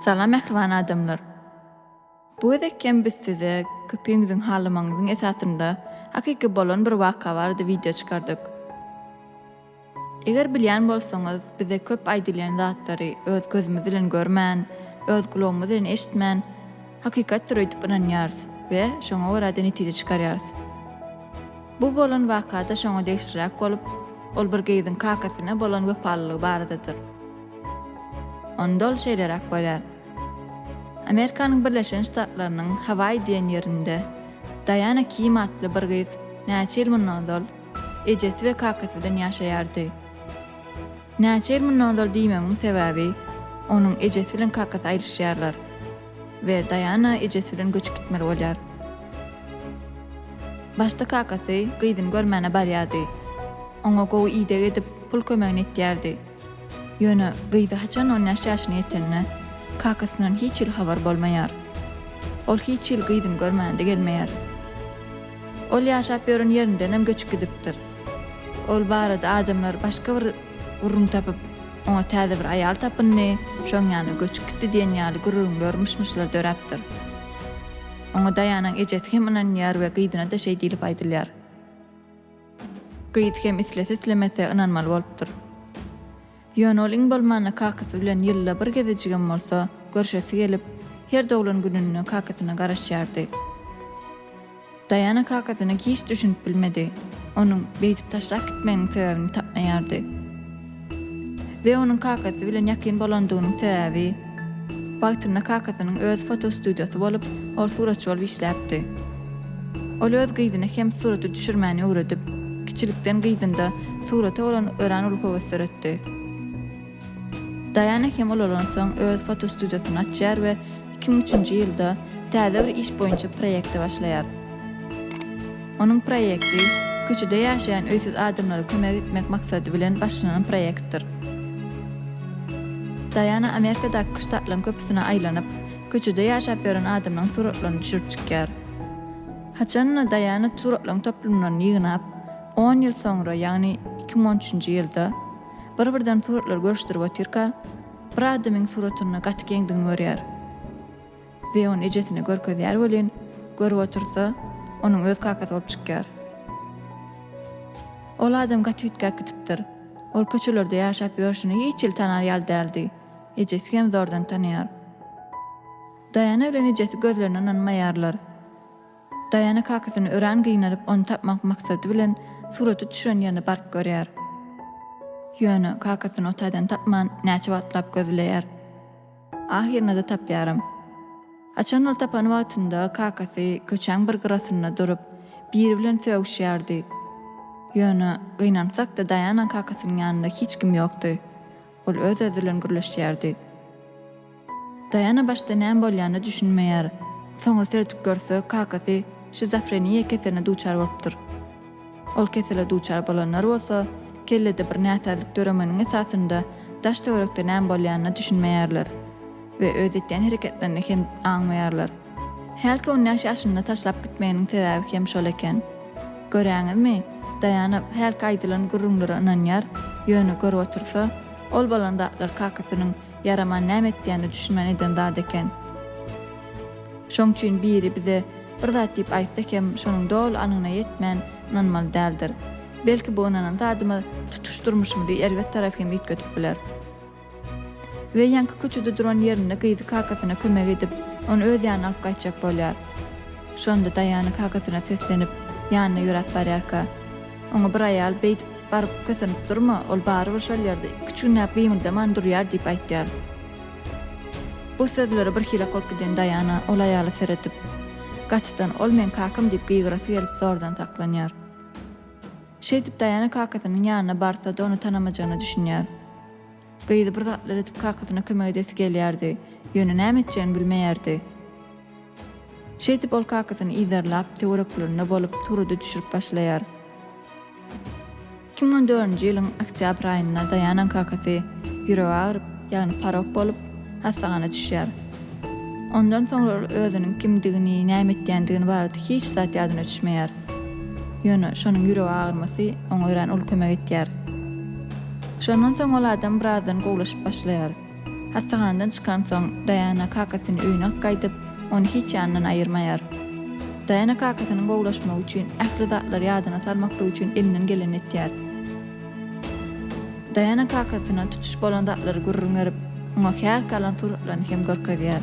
Salam mähriban adamlar. Bu gezek hem biz size köpiňiziň halamagynyň esasynda hakyky bolan bir waka barada wideo çykardyk. Eger bilýän bolsaňyz, bize köp aýdylýan zatlary öz gözümiz bilen görmän, öz gulagymyz bilen eşitmän, hakykatdyr öýdüp ynanýarys we şoňa görä-de netije çykarýarys. Bu bolan waka-da şoňa degişliräk bolup, ol bir gyzyň kakasyna bolan wepalylygy baradadyr. Onda ol şeýleräk bolýar. Amerikanyň Birleşen Ştatlarynyň Hawaýi diýen ýerinde Daýana Kim atly bir gyz näçe ýyl mundan ozal Ejesi we kakasy bilen ýaşaýardy. Näçe ýyl mundan ozal diýmegiň sebäbi, onuň ejesi bilen kakasy aýryşýarlar we Daýana ejesi bilen göçüp gitmeli bolýar. Başda kakasy gyzyny görmäne barýardy. Oňa gowy ideg edip, pul kömegini etýärdi. Ýöne gyzy haçan on bäş ýaşyna ýetende, kakasyndan hiç hili habar bolmaýar. Ol hiç hili gyzyny görmändi gelmeýär. Ol ýaşap ýören ýerindenem göçüp gidipdir. Ol barada adamlar başga bir gürrüň tapyp, oňa täze bir aýal tapyndy, şoň ýanyna göçüp gitdi diýen ýaly gürrüňler, myş-myşlar döräpdir. Oňa Daýanyň ejesi hem ynanýar we gyzyna-da şeý diýlip aýdylýar. Gyz hem islese-islemese ynanmaly bolupdyr. Ýöne ol iň bolmanda kakasy bilen ýylda bir gezejigem bolsa, görşesi gelip, her doglan gününde kakasyna garaşýardy. Daýana kakasyna hiç düşünip bilmedi. Onuň beýdip taşlap gitmeginiň sebäbini tapmaýardy. we onuň kakasy bilen ýakyn bolandygynyň sebäbi. Wagtynda kakasynyň öz fotostudiýasy bolup, ol suratçy bolup işläpdi. Ol öz gyzyna hem surata düşürmäni öwredip, kiçilikden gyzynda surata bolan örän uly höwes döretdi. Daýana hem ulalansoň öz fotostudiýasyny açýar we iki müň üçünji ýylda täze bir iş boýunça proýekte başlaýar. Onuň proýekti köçede ýaşaýan öýsüz adamlara kömek etmek maksady bilen başlanan proýektdir. Daýana Amerikadaky küştatlaryň köpüsine aýlanyp, köçede ýaşap ýören adamlaryň suratlaryny düşürip çykýar. Haçanda Daýana suratlaryň toplumlaryny ýygnap, on ýyl soňra, ýagny iki müň on üçünji ýylda, bir-birden suratlary görüşdirip otyrka, Bir adamyň suratynda gaty geňdigini görýär we ony ejesine görkezýär welin, görüp otursa, onuň öz kakasy bolup çykýar. Ol adam gaty üýtgäp gidipdir. Ol köçelerde ýaşap ýörşüne hiç il tanar ýaly däldi. Ejesi hem zordan tanaýar. Daýana bilen ejesi gözlerine ynanmaýarlar. Daýana kakasyny örän gynalyp, ony tapmak maksady bilen suraty düşüren ýerine baryp görýär. Ýöne, kakasyny o taýdan tapman, näçe wagtlap gözleýär. Ahyrynada tapýaram. Haçan ol tapan wagtynda kakasy köçäň bir gyrasynda durup, biri bilen sögüşýärdi. Ýöne, gynansak-da Daýana kakasynyň ýanynda hiç kim ýokdy. Ol öz-özi bilen gürleşýärdi. Daýana başda näme bolýanyna düşünmeýär. Soňra seredip görse, kakasy şizofreniýa keseline duçar bolupdyr. Ol kesele duçar bolanlar bolsa, kellede bir näsazlyk döremeniň esasynda daş-töwerekde näme bolýanyna düşünmeýärler we öz etýän hereketlerini hem aňmaýarlar. Hälki on bäş ýaşynda taşlap gitmeginiň sebäbi hem şol eken. Göräňizmi, Daýana hälki aýdylan gürrüňlere ynanýar, ýöne görüp otursa, ol bolan zatlar kakasynyň ýaraman näme etýänine düşünmän eden zat eken. Şoň üçin biri bize bir zat diýip aýtsa hem şonuň doly anygyna ýetmän ynanmaly däldir. Belki bu ynanan zadymyz tutuş durmuşymyzy erbet tarap hem üýtgedip biler. We ýaňky köçede duran ýerinde gyzy kakasyna kömek edip, ony öz ýanyna alyp gaýtjak bolýar. Şonda Daýana kakasyna seslenip, ýanyna ýöräp barýarka, oňa bir aýal beýdip baryp kösenip durma, ol barybir şol ýerde iki-üç günläp gymyldaman durýar diýip aýtýar. Bu sözlere birhili gorup giden Daýana ol aýala seredip, gatydan ol meň kakam diýip gygyrasy gelip zordan saklanýar. Şeýdip Daýana kakasynyň ýanyna barsa-da ony tanamajagyna düşünýär. Gyzy bir zatlar edip kakasyna kömek edesi gelýärdi, ýöne näme etjegini bilmeýärdi. Şeýdip ol kakasyny yzarlap, töwereklerinde bolup, surata düşürip başlaýar. Iki müň on dördünji ýylyň oktýabr aýynda Daýanaň kakasy ýüregi agyryp, ýagny porok bolup, hassahana düşýär. Ondan soňra ol özüniň kimdigini, näme etýändigini barada hiç zat ýadyna düşmeýär. Ýöne şonuň ýürek agyrmasy oňa örän uly kömek etýär. Şondan soň ol adam birazdan gowulaşyp başlaýar. Hassahanadan çykansoň, Daýana kakasyny öýüne alyp gaýdyp, ony hiç ýanyndan aýyrmaýar. Daýana kakasynyň gowulaşmagy üçin ähli zatlary ýadyna salmaklyk üçin elinden gelenini etýär. Daýana kakasyna tutuş bolan zatlary gürrüň berip, oňa häl salan suratlaryny hem görkezýär.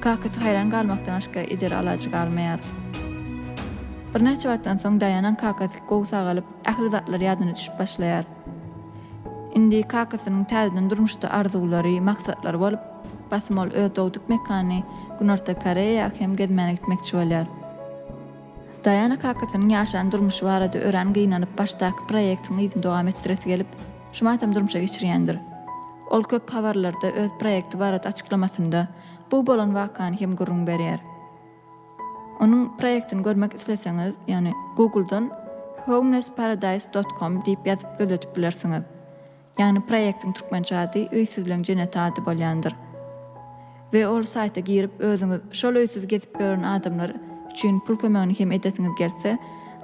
Kakasy haýran galmakdan başga eder alajy galmaýar. Birnäçe wagtdan soň Daýanaň kakasy gowy sagalyp, ähli zatlar ýadyna düşüp başlaýar. Indi kakasynyň täzeden durmuşda arzuwlary, maksatlary bolup, basym ol öz dogduk mekany Günorta Koreýa hem gezmäne gitmekçi bolýar. Daýana kakasynyň ýaşan durmuşy barada örän gynanyp, başdaky proýektiň yzyny dowam etdiresi gelip, şu matam durmuşa geçirýändir. Ol köp habarlarda öz proýekti barada açyklamasynda bu bolan wakany hem gürrüň berýär. Onuň proýektini görmek isleseňiz, ýagny Google-dan homelessparadise dot com diýip ýazyp gözletip bilersiňiz. Ýagny proýektiň türkmençe ady Öýsüzleň jenneti ady bolýandyr. We ol saýta girip özüňiz şol öýsüz gezip ýören adamlar üçin pul kömegini hem edesiňiz gelse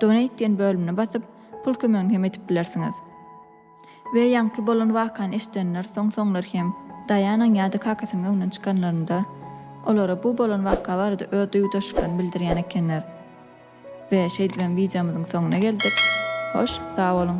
Donate diýen bölümine basyp pul kömegini hem edip bilersiňiz. We ýaňky bolan wakany eşidenler soň soňlar hem Daýanaň ýa-da kakasynyň öňünden çykanlarynda olara bu bolan waka barada öz duýgudaşlyklaryny bildirýän ekenler. We şeýdibem wideomyzyň soňuna geldik. Hoş, sag boluň!